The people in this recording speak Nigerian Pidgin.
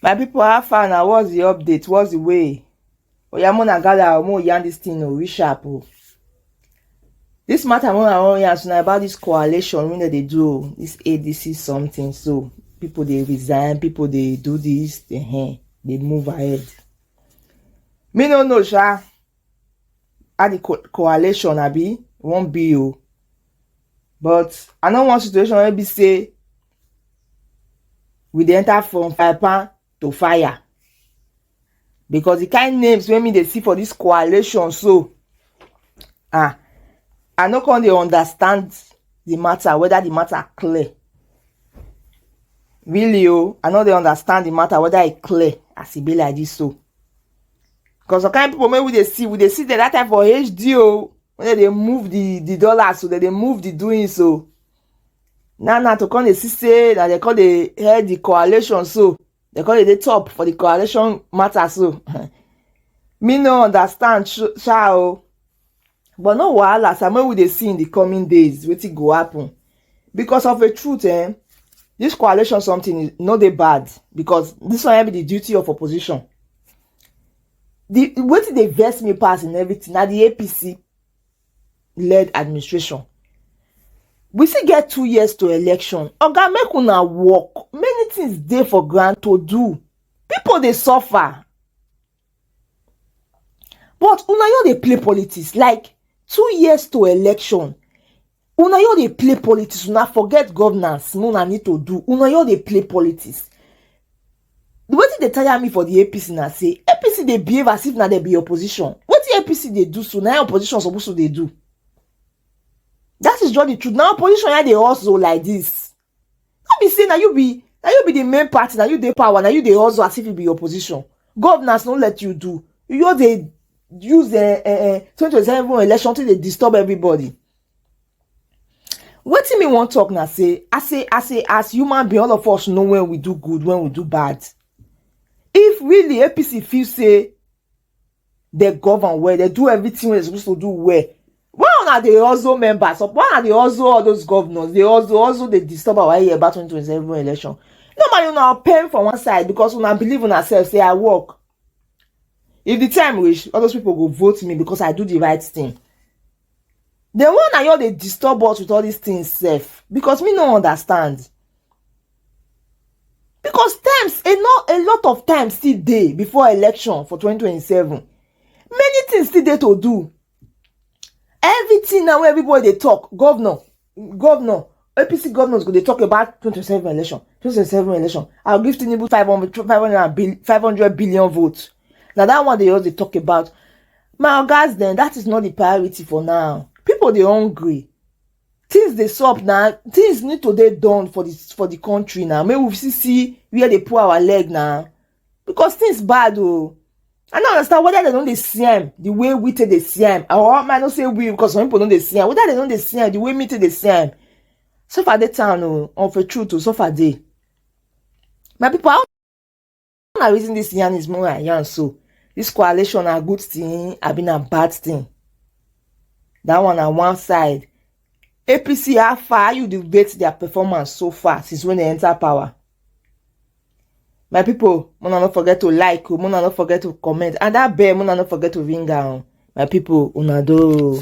my people how far now? what's the update what's the way oya mona gala omo yarn this thing o oh, reshap o oh. This matter wey I wan yarn na about this coalition wey dem dey do o, this ADC something so. People dey resign, people dey do this, dey hen, dey move ahead. Me no know sha how the co coalition abi wan be o but I no want situation wey be say we dey enter from fry pan to fire. because the kind names wey me dey see for this coalition so ah i no come dey understand the matter whether the matter clear really o oh, i no dey understand the matter whether e clear as e be like this so because the kind people wey we dey see we dey see them that time for hd o oh, when they dey move the the dollars so they dey move the doing so oh. now now to come dey see say na they come dey head the coalition so dem come dey top for the coalition matter so me no understand sha o but no wahala sir make we dey see in the coming days wetin go happen because of a truth eh this coalition something no dey bad because this one be the duty of opposition the wetin dey vex me pass in everything na the apc led administration we still get two years to election oga make una work many things dey for ground to do people dey suffer but una no dey play politics like two years to election una no dey play politics una forget governance una need to do una no dey play politics wetin dey tire me for the apc na say apc dey behave as if na dem be opposition wetin apc dey do so na opposition suppose to dey do that is just the truth na opposition ya dey hustle like this no be say na you be na you be the main party na you dey power na you dey hustle as if you be opposition governors no let you do you just dey use uh, uh, uh, 2027 election to dey disturb everybody wetin me wan talk na say as a as a as human being all of us know when we do good when we do bad if really apc feel say they govern well they do everything wey they suppose to do well why una dey also members of why una dey also all those governors dey also also dey disturb our ear about 2027 election normally una pen for one side because una believe una self say i work if the time reach all those people go vote me because i do the right thing the one na you dey disturb us with all these things sef because me no understand because times a lot a lot of times still dey before election for 2027 many things still dey to do everything now wey everybody dey talk governor governor apc governors go dey talk about 2027 election 2027 election i'll give tinubu 500 500 billion 500 billion votes na that one dey just dey talk about my ogas dem that is not the priority for now people dey hungry things dey sup na things need to dey done for the for the country na make we see see where dey pull our leg na because things bad oh. I don't understand whether they don't dey see am the way we take dey see am or I no say we because some people don't dey see am whether they don't dey see am the way me take dey see am. So far dey town oh, on for truth oh, so far dey. My people, how na reason this yarn is more than yarn so? This coalition na good thing, I been a bad thing. That one on one side. APC, how far you debate their performance so far since when they enter power? my people mona no forget to like o mona no forget to comment and that bell mona no forget to ring am my people una do.